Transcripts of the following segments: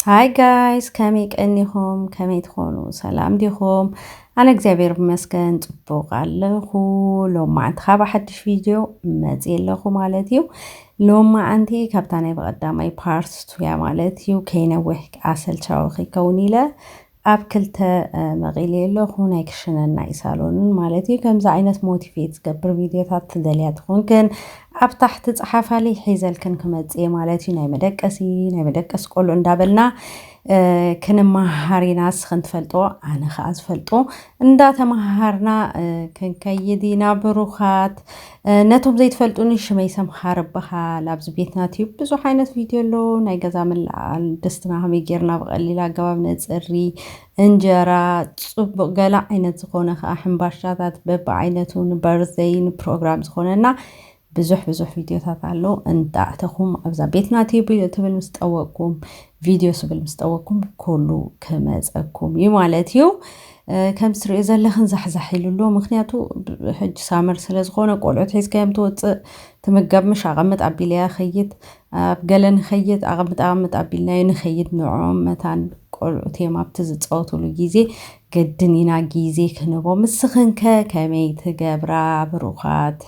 ሃይ ጋይስ ከመይ ቀኒኹም ከመይ ትኾኑ ሰላም ዲኹም ኣነ እግዚኣብሔር ይመስገን ፅቡቕ ኣለኹ ሎማዓንቲ ካብ ሓድሽ ቪድዮ መፅእ ኣለኹ ማለት እዩ ሎማዓንቲ ካብታ ናይ ብቐዳማይ ፓርት ቱያ ማለት እዩ ከይነውሕ ኣሰልቻዊ ከይከውን ኢለ ኣብ ክልተ መቂለዮ ኣለኩ ናይ ክሽነን ናይ ሳሎንን ማለት እዩ ከምዚ ዓይነት ሞቲቬት ዝገብር ቪድዮታት ትደልያ ትኮንክን ኣብ ታሕቲ ጸሓፋለይ ሒዘልክን ክመጽ እየ ማለት እዩ ናይ መደቀሲ ናይ መደቀሲ ቆልዑ እንዳበልና ክንመሃሃር ኢና ንስኽን ትፈልጦ ኣነ ከዓ ዝፈልጦ እንዳተመሃሃርና ክንከይድ ኢና ብሩኻት ነቶም ዘይትፈልጡኒ ሽመይ ሰምሃር እበሃል። ኣብዚ ቤትና ቲዩብ ብዙሕ ዓይነት ቪድዮ ኣሎ። ናይ ገዛ ምልዓል፣ ድስትና ከመይ ጌርና ብቐሊል ኣገባብ ነጽሪ፣ እንጀራ፣ ጽቡቕ ገለ ዓይነት ዝኾነ ከኣ ሕምባሻታት በብዓይነቱ ንበርዘይ ንፕሮግራም ዝኾነና ብዙሕ ብዙሕ ቪድዮታት ኣሎ። እንዳእተኹም ኣብዛ ቤትና ቲዩብ ትብል ምስ ጠወቅኩም ቪድዮ ስብል ምስ ጠወቅኩም ኩሉ ክመጸኩም እዩ ማለት እዩ። ከምቲ ትሪእዮ ዘለኽን ዛሕዛሕ ኢሉ ኣሎ ምኽንያቱ ሕጂ ሳመር ስለ ዝኾነ ቆልዑት ሒዝካዮም ትወፅእ ትምገብ ምሽ ኣቐምጥ ኣቢለያ ኸይድ ኣብ ገለ ንኸይድ ኣቐምጥ ኣቐምጥ ኣቢልናዮ ንኸይድ ንዕኦም መታን ቆልዑት እዮም ኣብቲ ዝፃወትሉ ግዜ ግድን ኢና ግዜ ክንቦም ንስኽንከ ከመይ ትገብራ ብሩኻት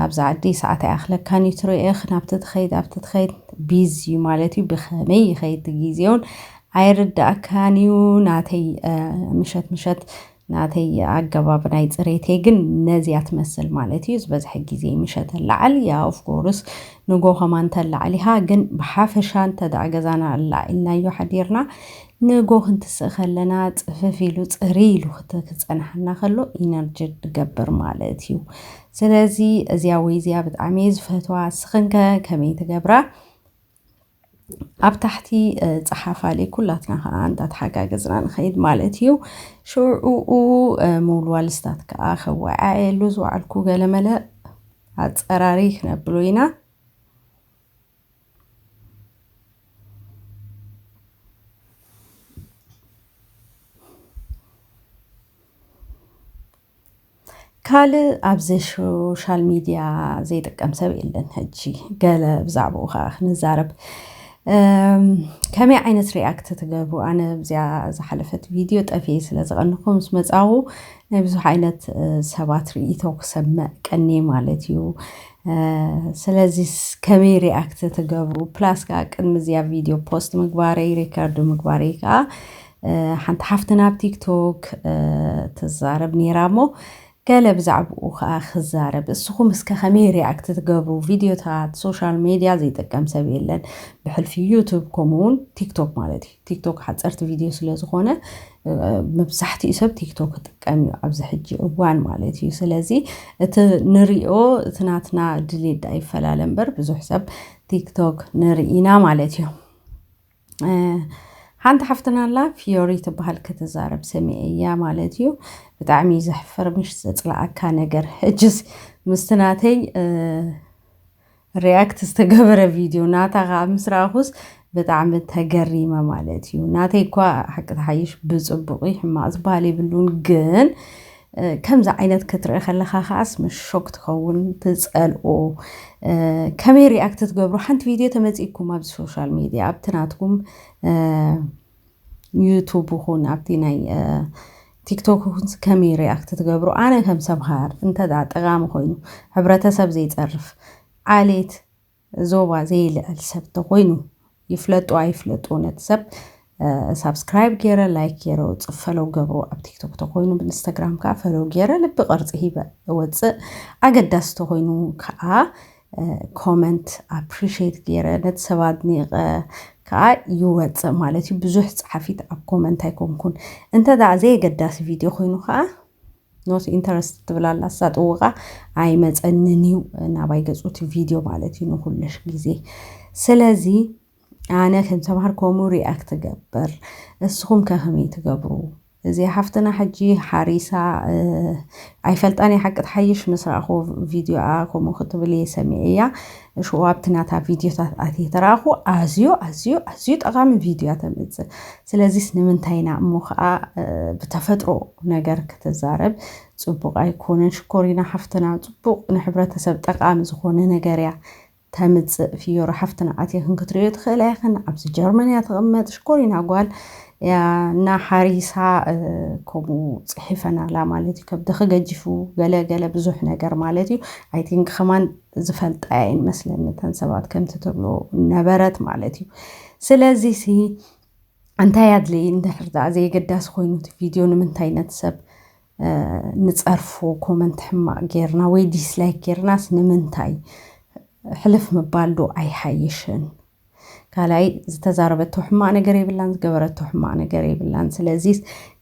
ኣብዚ ዓዲ ሰዓት ኣይኣኽለካን እዩ ትሪእኽ ናብቲ ትኸይድ ኣብቲ ትኸይድ ቢዚ ማለት እዩ ብኸመይ ይኸይድ ግዜውን ኣይርደኣካን እዩ ናተይ ምሸት ምሸት ናተይ ኣገባብ ናይ ጽሬተይ ግን ነዚያ ትመስል ማለት እዩ ዝበዝሐ ግዜ ምሸት ኣላዓል ያ ኦፍኮርስ ንጎ ከማን ተላዓል ኢኻ ግን ብሓፈሻ እንተ ደኣ ገዛና ኣላዒልናዮ ሓዲርና ንጎ ክንትስእ ከለና ጽፍፍ ኢሉ ጽርይ ኢሉ ክጸንሓና ከሎ ኢነርጂ ንገብር ማለት እዩ ስለዚ እዚያ ወይ እዚያ ብጣዕሚ እየ ዝፈትዋ እስኽንከ ከመይ ትገብራ? ኣብ ታሕቲ ፀሓፋለይ ኩላትና ከዓ እንዳተሓጋገዝና ንኸይድ ማለት እዩ ሽዑኡ ምውልዋልስታት ከዓ ከወዓየሉ ዝወዓልኩ ገለመለ ኣፀራሪ ክነብሎ ኢና ካልእ ኣብዚ ሾሻል ሚድያ ዘይጥቀም ሰብ የለን ሕጂ ገለ ብዛዕባኡ ከዓ ክንዛረብ ከመይ ዓይነት ሪኣክት ትገብሩ ኣነ ኣብዚኣ ዝሓለፈት ቪድዮ ጠፍኤ ስለ ዝቐንኹ ምስ መፃኹ ናይ ብዙሕ ዓይነት ሰባት ርኢቶ ክሰምዕ ቀንየ ማለት እዩ ስለዚ ከመይ ሪኣክት ትገብሩ ፕላስ ከዓ ቅድሚ እዚኣ ቪድዮ ፖስት ምግባረይ ሪከርድ ምግባረይ ከዓ ሓንቲ ሓፍትና ኣብ ቲክቶክ ትዛረብ ነይራ እሞ ገለ ብዛዕባኡ ከዓ ክዛረብ እስኹም እስከ ከመይ ሪያክት ትገብሩ ቪድዮታት ሶሻል ሜድያ ዘይጥቀም ሰብ የለን ብሕልፊ ዩቱብ ከምኡውን ቲክቶክ ማለት እዩ ቲክቶክ ሓፀርቲ ቪድዮ ስለዝኾነ መብዛሕትኡ ሰብ ቲክቶክ ክጥቀም እዩ ኣብዚ ሕጂ እዋን ማለት እዩ ስለዚ እቲ ንሪኦ እቲ ናትና ድሌት ዳኣ ይፈላለ እምበር ብዙሕ ሰብ ቲክቶክ ንርኢና ማለት እዩ ሓንቲ ሓፍትና ኣላ ፍዮሪ ትበሃል ክትዛረብ ሰሚዐ እያ ማለት እዩ ብጣዕሚ እዩ ዘሕፍር ምሽ ዘፅላኣካ ነገር ሕጅስ ምስቲ ናተይ ሪያክት ዝተገበረ ቪድዮ ናታ ከዓ ምስ ረኣኹስ ብጣዕሚ ተገሪመ ማለት እዩ ናተይ እኳ ሓቂ ተሓይሽ ብፅቡቅ ሕማቅ ዝበሃል የብሉን ግን ከምዚ ዓይነት ክትርኢ ከለካ ከዓስ መሾክ ትከውን ትጸልኦ ከመይ ሪኣክት ትገብሩ ሓንቲ ቪድዮ ተመጺኩም ኣብ ሶሻል ሚድያ ኣብቲ ናትኩም ዩቱብ ይኹን ኣብቲ ናይ ቲክቶክ ይኹን ከመይ ሪኣክት ትገብሩ ኣነ ከም ሰምሃር እንተ ጠቃሚ ኮይኑ ሕብረተሰብ ዘይጸርፍ ዓሌት ዞባ ዘይልዕል ሰብ ተኾይኑ ይፍለጡ ኣይፍለጡ ነቲ ሰብ ሳብስክራይብ ገይረ ላይክ ገይረ ወፅእ ፈለው ገብሮ ኣብ ቲክቶክ ተኮይኑ ብኢንስታግራም ከዓ ፈለው ገይረ ልቢ ቅርፂ ሂበ ወፅእ ኣገዳሲ ተኮይኑ ከዓ ኮመንት ኣፕሪሽት ገይረ ነቲ ሰብ ኣድኒቀ ከዓ ይወፅእ ማለት እዩ ብዙሕ ፀሓፊት ኣብ ኮመንት ኣይኮንኩን እንተ ዘየገዳሲ ቪድዮ ኮይኑ ከዓ ኖት ኢንተረስት ትብል ኣላ እሳ ጥውቓ ኣይመፀንን እዩ ናባይ ገፁ እቲ ቪድዮ ማለት እዩ ንኩልሽ ግዜ ስለዚ ኣነ ከም ተምሃርኮሙ ሪኣክት ትገብር እስኹም ከ ከመይ ትገብሩ እዚኣ ሓፍትና ሕጂ ሓሪሳ ኣይፈልጣን እየ ሓቂ ትሓይሽ ምስ ረኣኹ ቪድዮኣ ከምኡ ክትብል እየ ሰሚዐያ ሽኡ ኣብቲ ናታ ቪድዮታት ኣትየ ተረኣኹ ኣዝዩ ኣዝዩ ኣዝዩ ጠቓሚ ቪድዮ እያ ተምፅእ ስለዚስ ንምንታይ ኢና እሞ ከኣ ብተፈጥሮ ነገር ክትዛረብ ጽቡቅ ኣይኮነን ሽኮሪና ሓፍትና ጽቡቅ ንሕብረተሰብ ጠቃሚ ዝኮነ ነገር እያ ተምጽእ ፍዮሪ ሓፍትና ኣትየክን ክትርእዮ ትክእላ ኢክን ኣብዚ ጀርመን እያ ትቅመጥ ሽኮሪና ጓል እያ እና ሓሪሳ ከምኡ ጽሒፈን ኣላ ማለት እዩ ከብድኪ ገጂፉ ገለ ገለ ብዙሕ ነገር ማለት እዩ ኣይ ቲንክ ከማን ዝፈልጣ እየን መስለኒ እተን ሰባት ከምቲ ትብሎ ነበረት ማለት እዩ ስለዚ ሲ እንታይ ኣድሊ እንድሕር ደኣ ዘየገዳሲ ኮይኑ እቲ ቪድዮ ንምንታይ ነቲ ሰብ ንፀርፎ ኮመንት ሕማቅ ጌርና ወይ ዲስላይክ ጌርናስ ንምንታይ ሕልፍ ምባል ዶ ኣይሓይሽን ካልኣይ ዝተዛረበቶ ሕማቅ ነገር የብላን ዝገበረቶ ሕማቅ ነገር የብላን ስለዚ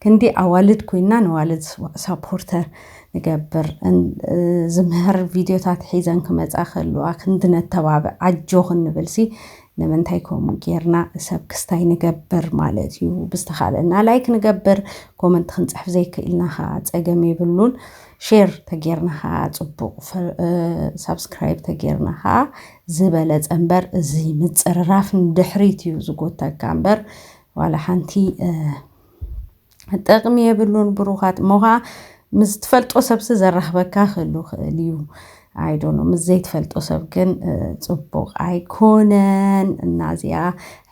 ክንዲ ኣዋልድ ኮይና ንዋልድ ሳፖርተር ንገብር ዝምህር ቪድዮታት ሒዘን ክመፃ ከለዋ ክንዲ ነተባብዕ ኣጆኽን ንብልሲ ንምንታይ ከምኡ ጌርና ሰብ ክስታይ ንገብር ማለት እዩ ብዝተኻለና ላይክ ንገብር ኮመንት ክንፅሕፍ ዘይክእልና ኸዓ ፀገም የብሉን ሼር ተጌርና ኸዓ ፅቡቕ ሳብስክራይብ ተጌርና ኸዓ ዝበለፀ እምበር እዚ ምፅርራፍ ንድሕሪት እዩ ዝጎተካ እምበር ዋላ ሓንቲ ጠቅሚ የብሉን ብሩኻት እሞ ኸዓ ምስ ትፈልጦ ሰብሲ ዘራኽበካ ክህሉ ክእል እዩ ኣይዶኖ ምስ ዘይትፈልጦ ሰብ ግን ፅቡቅ ኣይኮነን እና እዚኣ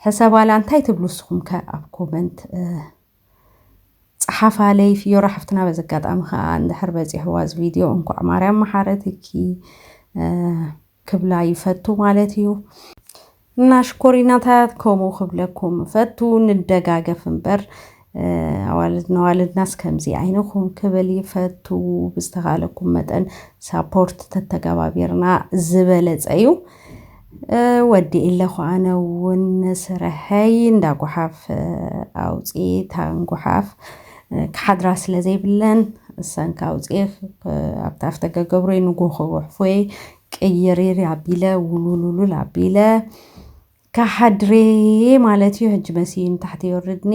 ሕሰባላ እንታይ ትብሉ እስኹም ከ ኣብ ኮመንት ፀሓፋለይ ፍዮራ ሓፍትና በዚ ኣጋጣሚ ከዓ እንድሕር በፂሕዋ እዚ ቪድዮ እንኳዕ ማርያም መሓረትኪ ክብላ ይፈቱ ማለት እዩ እና ሽኮሪናታት ከምኡ ክብለኩም እፈቱ ንደጋገፍ እምበር ኣዋልድ ነዋልድናስ ከምዚ ዓይንኹም ክብል ይፈቱ ብዝተኻለኩም መጠን ሳፖርት ተተገባቢርና ዝበለፀ እዩ ወዲእ ኣለኹ ኣነ እውን ስርሐይ እንዳ ጉሓፍ ኣውፅኤ ታን ጉሓፍ ክሓድራ ስለ ዘይብለን እሰንኪ ኣውፅኤክ ኣብቲ ኣፍደገ ገብረይ ንጎ ክጉሕፎየይ ቅይሪሪ ኣቢለ ውሉሉሉል ኣቢለ ክሓድሬ ማለት እዩ ሕጂ መሲ ንታሕቲ የወርድኒ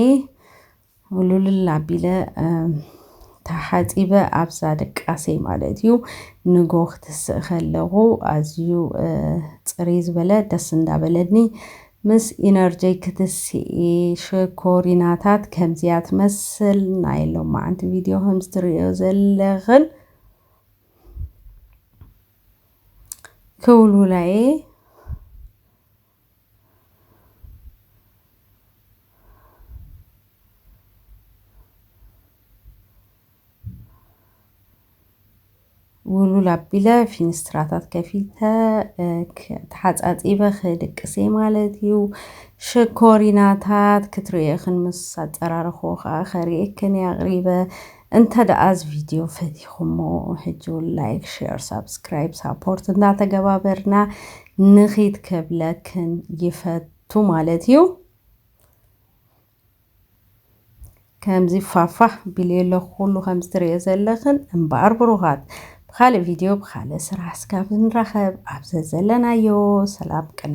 ውሉልል ኣቢለ ተሓፂበ ኣብዛ ደቃሰይ ማለት እዩ ንጎ ክትስእ ከለኹ ኣዝዩ ፅርይ ዝበለ ደስ እንዳበለኒ ምስ ኢነርጀይ ክትስኢ ሽኮሪናታት ከምዚያ ትመስል ናይ ሎማዓንቲ ቪድዮ ከምዚ ትርእዮ ዘለኽን ክውልውላ እየ ውልውል ኣቢለ ፊንስትራታት ከፊተ ተሓፃፂበ ክድቅስ እየ ማለት እዩ ሽኮሪናታት ክትርእየኽን ምስ ኣፀራረኹ ከዓ ከርእየክን እየ ኣቕሪበ እንተ ደኣ እዚ ቪድዮ ፈቲኹሞ ሕጂ እውን ላይክ ሼር ሳብስክራይብ ሳፖርት እንዳተገባበርና ንኺድ ከብለክን ይፈቱ ማለት እዩ ከምዚ ፋፋህ ቢል የለኹ ኩሉ ከምዚ ትርእዮ ዘለኽን እምበኣር ብሩኻት ብኻልእ ቪድዮ ብኻልእ ስራሕ ስካብ ንራኸብ ኣብ ዘዘለናዮ ሰላም ቅነ